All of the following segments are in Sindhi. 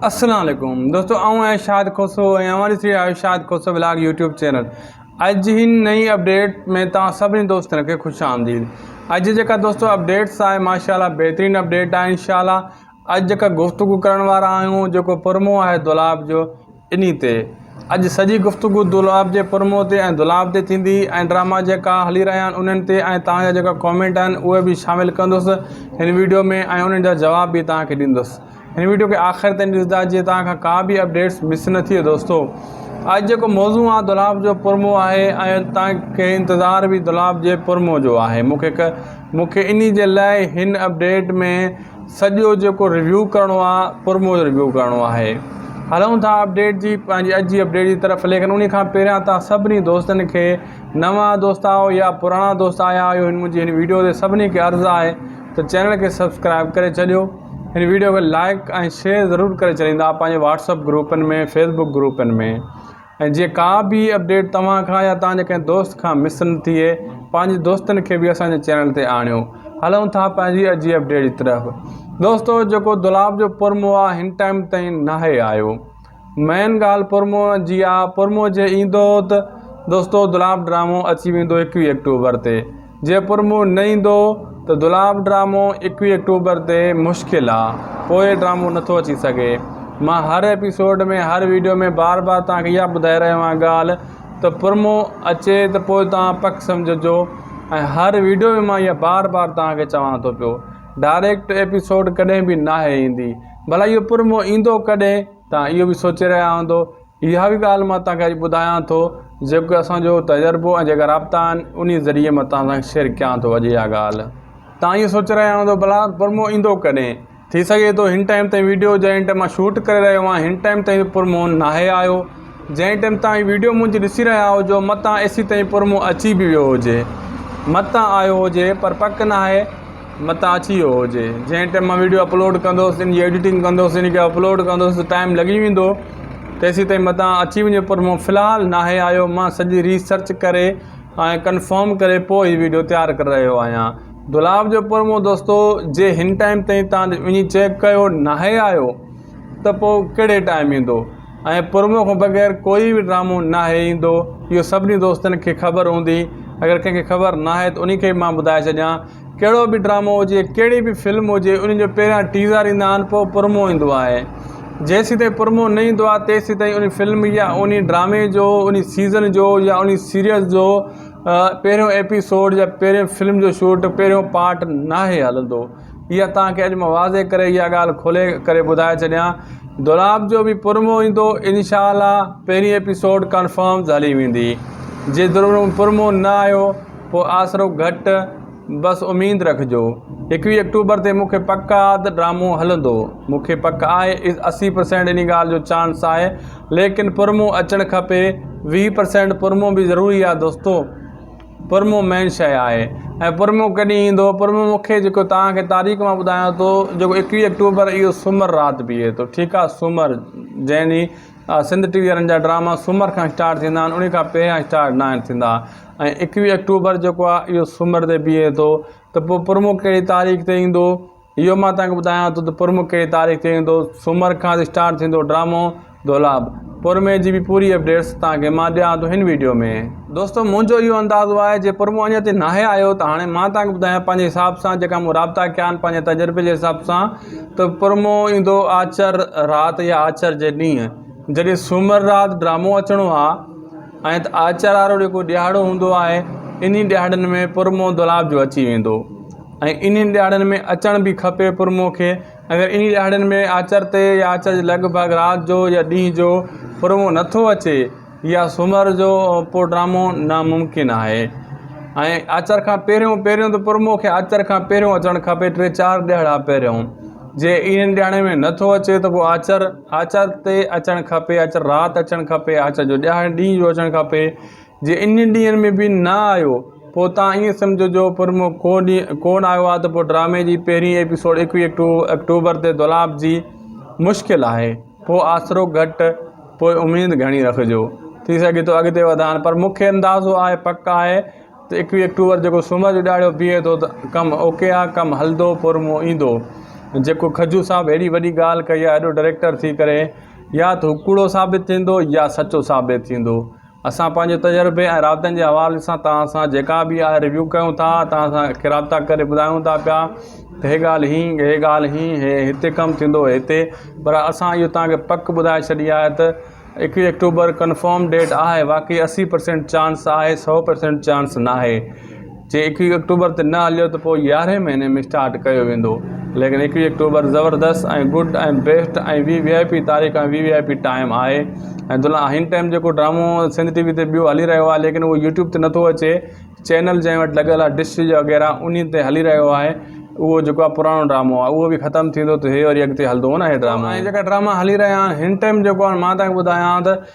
اسلام عليڪم دوستو آئون آهيان شاد کوسو ۽ اوهان ڏسي رهيا آهيو Shad Khoso vlog YouTube channel اڄ جي هن نئين اپڊيٽ ۾ توهان سڀني دوستن کي خوش آمديد اڄ جيڪا دوستو اپڊيٽس آهي ماشاءالله بهترين اپڊيٽ آهي انشاءالله اڄ جيڪا گفتگو ڪرڻ وارا آهيون جيڪو پرمو آهي دولاب جو انهي تي اڄ سڄي گفتگو دولاب جي پرمو تي ۽ دولاب تي ٿيندي ۽ ڊراما جيڪا هلي رهيا آهن انهن تي ۽ توهان جا جيڪا ڪامينٽ آهن اهي به شامل ڪندس هن ويڊيو ۾ ۽ انهن جا جواب به توهان کي ڏيندس هن ويڊيو کي آخر تائين ڏسدا جيئن توهان کان ڪا به اپڊيٽس مس نه ٿئي دوستو اڄ جيڪو موضوع آ دولاب جو پرمو آهي ۽ توهان کي انتظار به دولاب جي پرمو جو آهي مون کي مون کي انهي جي لاء هن اپڊيٽ ۾ سڄو جيڪو ريويو ڪرڻو آ پرمو جو ريويو ڪرڻو آهي هلون ٿا اپڊيٽ جي پنهنجي اڄ جي اپڊيٽ جي طرف ليڪن انهي کان پهريان توهان سڀني دوستن کي نوان دوست آهيو يا پراڻا دوست آيا آهيو هن منهنجي هن ويڊيو تي سڀني کي عرض آهي ته چينل کي سبسڪرائب ڪري ڇڏيو هن ويڊيو کي لائيڪ ۽ شيئر ضرور ڪري ڇڏيندا پنهنجي واٽس اپ گروپن ۾ فيس بڪ گروپن ۾ ۽ جيئن ڪا به اپڊيٽ توهان کان يا توهان جي ڪنهن دوست کان مس نه ٿئي پنهنجي دوستن کي به اسان جي چينل تي آڻيو هلون ٿا پنهنجي اڄي اپڊيٽ جي طرف دوستو جيڪو دولاب جو پرموآ هن ٽائيم تائين ناهي آيو مين ڳالهه پرموء جي آ، پرموء جي ايندو ته دوستو دولاب ڊرامو اچي ويندو ايڪويهه آڪٽوبر تي، جي پرموء نه ايندو ته دولاب ڊرامو ايڪويهه آڪٽوبر تي مشڪل آ، پوء ڊرامو نه ٿو اچي سگهي. مان هر ايپيسوڊ ۾ هر ويڊيو ۾ بار بار توهان کي اها ٻڌائي رهيو آهيان ڳالهه ته پرموء اچي ته پوء توهان پڪ سمجهجو ۽ هر ويڊيو ۾ مان اها بار بار توهان کي چوان ٿو پيو ڊائريڪٽ ايپيسوڊ ڪڏهن به ناهي ايندي ڀلا اهو پر موهه ايندو ڪڏهن؟ توهان اهو به سوچي رهيا هوندو. اها ئي ڳالهه مان توهان کي اڄ ٻڌايان ٿو، جيڪو اسان جو تجربو ۽ جيڪا رابطا آهن، انهيء ذريعي مان توهان سان شيئر ڪيان ٿو اڄ اها ڳالهه. توهان اهو سوچي رهيا هوندو، ڀلا پر موهه ايندو ڪڏهن؟ ٿي سگهي ٿو هن ٽائيم تائين وڊيو جنهن ٽائيم مان شوٽ ڪري رهيو آهيان، هن ٽائيم تائين پر موهه ناهي آيو. جنهن ٽيم تان هي ويڊيو منهنجي ڏسي رهيا هجو متان ايسي تائين پرمون اچي به ويو هجي متان آيو هجي پر پڪ ناهي متان اچي ويو هجي جنهن ٽيم مان ويڊيو اپلوڊ ڪندوس ان جي ايڊيٽنگ ڪندوس ان کي اپلوڊ ڪندوس ٽائم لڳي ويندو تيسي تائين متان اچي وڃي پر مون في الحال ناهي آيو مان سڄي ريسرچ ڪري ۽ ڪنفرم ڪري پوء هي ويڊيو تيار ڪري رهيو آهيان دولاب جو پرمون دوستو جي هن ٽائم تائين تان وڃي چيڪ ڪيو ناهي آيو ته پوء ڪهڙي ٽائيم ايندو ۽ پرومو کان بغير ڪوئي به ڊرامو ناهي ايندو اهو سڀني دوستن کي خبر هوندي اگر ڪنهن کي خبر ناهي ته انهي کي به مان ٻڌائي ڇڏيان ڪهڙو به ڊرامو هجي ڪهڙي به فلم هجي انهي جو پهريان ٽيزر ايندا آهن پوء پرومو ايندو آهي جيسين تائين پرومو نه ايندو آهي تيسين تائين انهي فلم يا انهي ڊرامي جو انهي سيزن جو يا انهي سيريز جو پهريون ايپيسوڊ يا پهريون فلم جو شوٽ پهريون پارٽ ناهي هلندو اها توهان کي اڄ مان واضح ڪري اها ڳالهه کولي ڪري ٻڌائي ڇڏيان دولاب جو به پرمو ايندو انشاء الله پهرين ايپيسوڊ ڪنفرمز هلي ويندي جي دولاب پرمو نه آيو پو آسرو گهٽ بس اميد رکجو ايڪويهه اڪٽوبر تي مونکي پڪ آ ته ڊرامو هلندو مونکي پڪ آهي اسي پرسينٽ انهي ڳالهه جو چانس آهي ليڪن پرمو اچڻ کپي ويهه پرسينٽ پرمو به ضروري آ دوستو. پرمو مين شيء آهي ۽ پرمو ڪڏهن ايندو؟ پرمو مون کي جيڪو توهان کي تاريخ مان ٻڌايان ٿو جيڪو ايڪويهه آڪٽوبر اهو سومر رات بيهي ٿو ٺيڪ آهي سومر جنهن ڏينهن سنڌ ٽي وي وارن جا ڊراما سومر کان اسٽارٽ ٿيندا آهن انهي کان پهريان اسٽارٽ نه آهن ٿيندا ۽ ايڪويهه آڪٽوبر جيڪو آهي اهو سومر تي بيهي ٿو ته پوء پرمو ڪهڙي تاريخ تي ايندو؟ اهو مان توهان کي ٻڌايان ٿو ته پرمون ڪهڙي تاريخ تي ايندو سومر کان اسٽارٽ ٿيندو ڊرامو دولاب پرمي جي به پوري اپڊيٽس توهان کي مان ڏيان ٿو هن ويڊيو ۾. دوستو منهنجو اهو اندازو آهي جي پرمون اڃا تائين ناهي آيو ته هاڻي مان توهان کي ٻڌايان پنهنجي حساب سان جيڪا مون رابطا ڪيا آهن پنهنجي تجربي جي حساب سان ته پرمون ايندو آچر رات يا آچر جي ڏينهن جڏهن سومر رات ڊرامو اچڻو آهي ۽ ته آچر وارو جيڪو ڏيهاڙو هوندو آهي انهي ڏيهاڙن ۾ پرمون دولاب جو اچي ويندو ۽ انهن ڏهاڙن ۾ اچڻ به کپي پرموه کي. اگر انهن ڏهاڙن ۾ آچر تي يا آچر جي لڳ ڀڳ رات جو يا ڏينهن جو پرموه نه ٿو اچي يا سومر جو پوء ڊرامو ناممڪن آهي ۽ آچر کان پهريون پهريون ته پرموه کي آچر کان پهريون اچڻ کپي ٽي چار ڏهاڙا پهريون جي انهن ڏهاڙن ۾ نه ٿو اچي ته پوء آچر آچر تي اچڻ کپي آچر رات اچڻ کپي آچر جو ڏينهن جو اچڻ کپي جي انهن ڏينهن ۾ به نه آيو پوء تان ائين سمجهو جو پرمو ڪو ڏينهن ڪو نه آيو آهي ته پوء ڊرامي جي پهرين ايپيسوڊ ايڪويهه آڪٽوبر تي دولاب جي مشڪل آهي پوء آسرو گهٽ پوء اميد گهڻي رکجو ٿي سگهي ٿو اڳتي وڌائن پر مون کي اندازو آهي پڪ آهي ته ايڪويهه آڪٽوبر جيڪو سومر جو ڏهاڙو بيهي ٿو ته ڪم اوڪي آهي ڪم هلندو پرمو ايندو جيڪو کجو صاحب هيڏي وڏي ڳالهه ڪئي آهي هيڏو ڊريڪٽر ٿي ڪري يا ته هو ڪوڙو ثابت ٿيندو يا سچو ثابت ٿيندو اسان پنهنجي تجربي ۽ رابطن جي حوالي سان توهان سان جيڪا به آهي ريويو ڪيون ٿا توهان سان اکي رابطا ڪري ٻڌايون ٿا پيا ته هي ڳالهه هين هي ڳالهه هين هي هتي ڪم ٿيندو هي هتي پر اسان اهو توهان کي پڪ ٻڌائي ڇڏي آهي ته ايڪويهه آڪٽوبر ڪنفرم ڊيٽ آهي باقي اسي پرسينٽ چانس آهي سو پرسينٽ چانس ناهي جي ايڪويهه آڪٽوبر تي نه هليو ته پوء يارهين مهيني ۾ اسٽارٽ ڪيو ويندو ليڪن ايڪويهه آڪٽوبر زبردست ۽ good ۽ best ۽ V V I P تاريخ ۽ V V I P time آهي ۽ دلان هن ٽائيم جيڪو ڊرامو سنڌ ٽي وي تي ٻيو هلي رهيو آهي ليڪن اهو يوٽيوب تي نٿو اچي چينل جنهن وٽ لڳل آهي ڊش وغيره انهي تي هلي رهيو آهي اهو جيڪو آهي پراڻو ڊرامو آهي اهو به ختم ٿيندو ته هي وري اڳتي هلندو نه هي ڊرامو ۽ جيڪا ڊراما هلي رهيا آهن هن ٽائيم جيڪو آهي مان تان ٻڌايان ته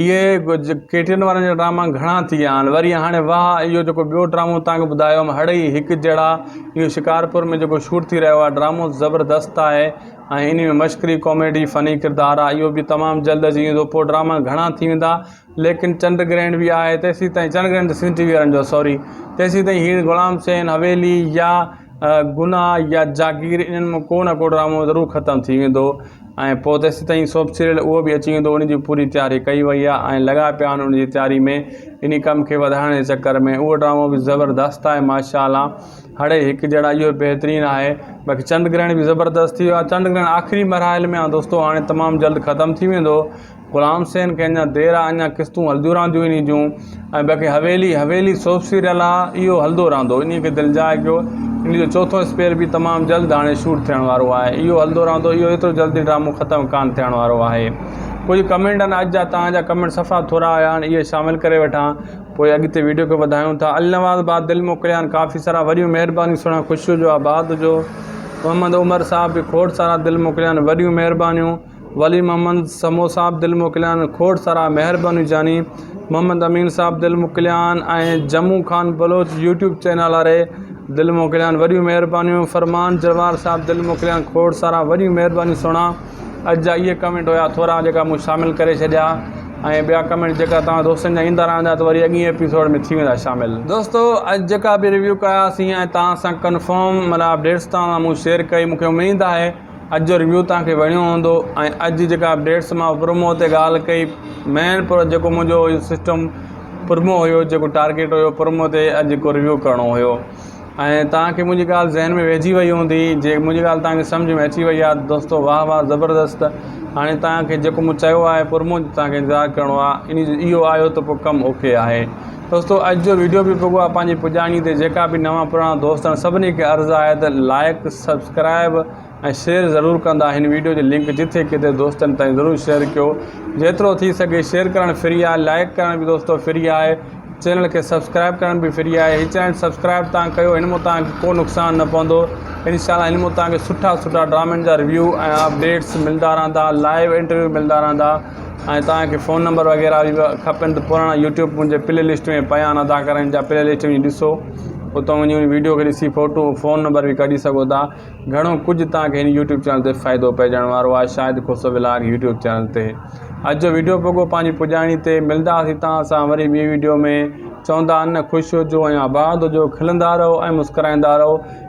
اهي ڪيٽرين وارن جا ڊراما گهڻا ٿي ويا آهن وري هاڻي واهه اهو جيڪو ٻيو ڊرامو تنهن کي ٻڌايو هيم هڙئي هڪ جهڙا اهو شڪارپور ۾ جيڪو شوٽ ٿي رهيو آهي ڊرامو زبردست آهي ۽ ان ۾ مشڪري ڪاميڊي فني ڪردار آهي اهو به تمام جلد اچي ويندو پوء ڊراما گهڻا ٿي ويندا ليڪن چنڊ گرهڻ به آهي تيسين تائين چنڊ گرهڻ ته سنڌ ٽي وي وارن جو سوري تيسين تائين هينئر غلام حسين حويلي يا گناهه يا جاگير انهن مان ڪو نه ڪو ڊرامو ضرور ختم ٿي ويندو ۽ پوء تيسين تائين سوپ سيريل اهو به اچي ويندو ان جي پوري تياري ڪئي وئي آهي ۽ لڳا پيا آهن ان جي تياري ۾ انهي ڪم کي وڌائڻ جي چڪر ۾ اهو ڊرامو به زبردست آهي ماشاء الله هڙئي هڪ جهڙا اهو به بهترين آهي باقي چنڊ گرهڻ به زبردست ٿي ويو آهي چنڊ گرهڻ آخري مراحل ۾ آهي دوستو هاڻي تمام جلد ختم ٿي ويندو غلام حسين کي اڃا دير آ اڃا قسطون هلديون رهنديون انهي جون ۽ باقي حويلي حويلي سوپ سيريل آ اهو هلدو رهندو انهي کي دلجاء ڪيو انهي جو چوٿون اسپيل به تمام جلد هاڻي شوٽ ٿيڻ وارو آهي اهو هلدو رهندو اهو ايترو جلدي ڊرامو ختم ڪانه ٿيڻ وارو آهي ڪجهه ڪمينٽ آهن اڄ جا توهان جا ڪمينٽ صفا ٿورا هيا هاڻي اهي شامل ڪري وٺان پوء اڳتي ويڊيو کي وڌايون ٿا النواز با دل موڪليان ڪافي سارا وريون مهربانيون سهڻا خوشيء جو آباد هجو محمد عمر صاحب به کوڙ سارا دل موڪليان وريون مهربانيون ولي محمد سمون صاحب دل موڪليان، کوڙ سارا مهربانيون جاني محمد امين صاحب دل موڪليان ۽ جمون خان بلوچ يوٽيوب چينل واري دل موڪليان وڏيون مهربانيون فرمان جروار صاحب دل موڪليان کوڙ سارا وڏيون مهربانيون سهڻا اڄ جا اهي ڪمينٽ هيا ٿورا جيڪا مون شامل ڪري ڇڏيا ۽ ٻيا ڪمينٽ جيڪا توهان دوستن جا ايندا رهندا ته وري اڳين ايپيسوڊ ۾ ٿي ويندا شامل دوستو اڄ جيڪا به ريويو ڪياسين ۽ توهان سان ڪنفرم مطلب اپڊيٽس توهان سان مون شيئر ڪئي مونکي اميد آهي اڄ جو ريويو توهان کي وڻيو هوندو ۽ اڄ جيڪا اپڊيٽس مان پرومو تي ڳالهه ڪئي مين پر جيڪو منهنجو سسٽم پرومو هيو جيڪو ٽارگيٽ هيو پرومو تي اڄ جيڪو ريويو ڪرڻو هيو ۽ توهان کي منهنجي ڳالهه ذهن ۾ ويهجي وئي هوندي جي منهنجي ڳالهه توهان کي سمجھ ۾ اچي وئي آهي دوستو واهه واهه زبردست هاڻي توهان کي جيڪو مون چيو آهي پرومو توهان کي انتظار ڪرڻو آهي ان جو اهو آهيو ته پوء ڪم اوڪي آهي دوستو اڄ جو ويڊيو به پڳو آهي پنهنجي پڄاڻي تي جيڪا به نوان پراڻا دوست آهن سڀني کي عرض آهي ته لائيڪ سبسڪرائيب ۽ شيئر ضرور ڪندا هن ويڊيو جي لنڪ جٿي ڪٿي دوستن تائين ضرور شيئر ڪيو جيترو ٿي سگهي شيئر ڪرڻ فري آهي لائيڪ ڪرڻ به دوستو فري آهي چينل کي سبسڪرائيب ڪرڻ به فري آهي هي چينل سبسڪرائيب تان ڪيو هن مان تان ڪو نقصان نه پوندو انشاءالله هن مان تان کي سٺا سٺا ڊرامن جا ريويو ۽ اپڊيٽس ملدا رهندا لائيو انٽرويو ملدا رهندا ۽ توهان کي فون نمبر وغيره به کپن ته پراڻا يوٽيوب منهنجي پلي لسٽ ۾ پيا آهن ادا ڪرڻ جا پلي لسٽ وڃي ڏسو اتو وڃي ان ويڊيو کي ڏسي فوٽو فون نمبر به ڪڍي سگهو ٿا گهڻو ڪجهه توهان کي هن يوٽيوب چينل تي فائدو پئجڻ وارو آهي Shahid Khoso vlog YouTube channel تي اڄ جو ويڊيو پڳو پنهنجي پڄاڻي تي ملنداسي توهان سان وري ٻي ويڊيو ۾ چوندا ان خوش هجو ۽ آباد هجو کلندا رهو ۽ مسڪرائيندا رهو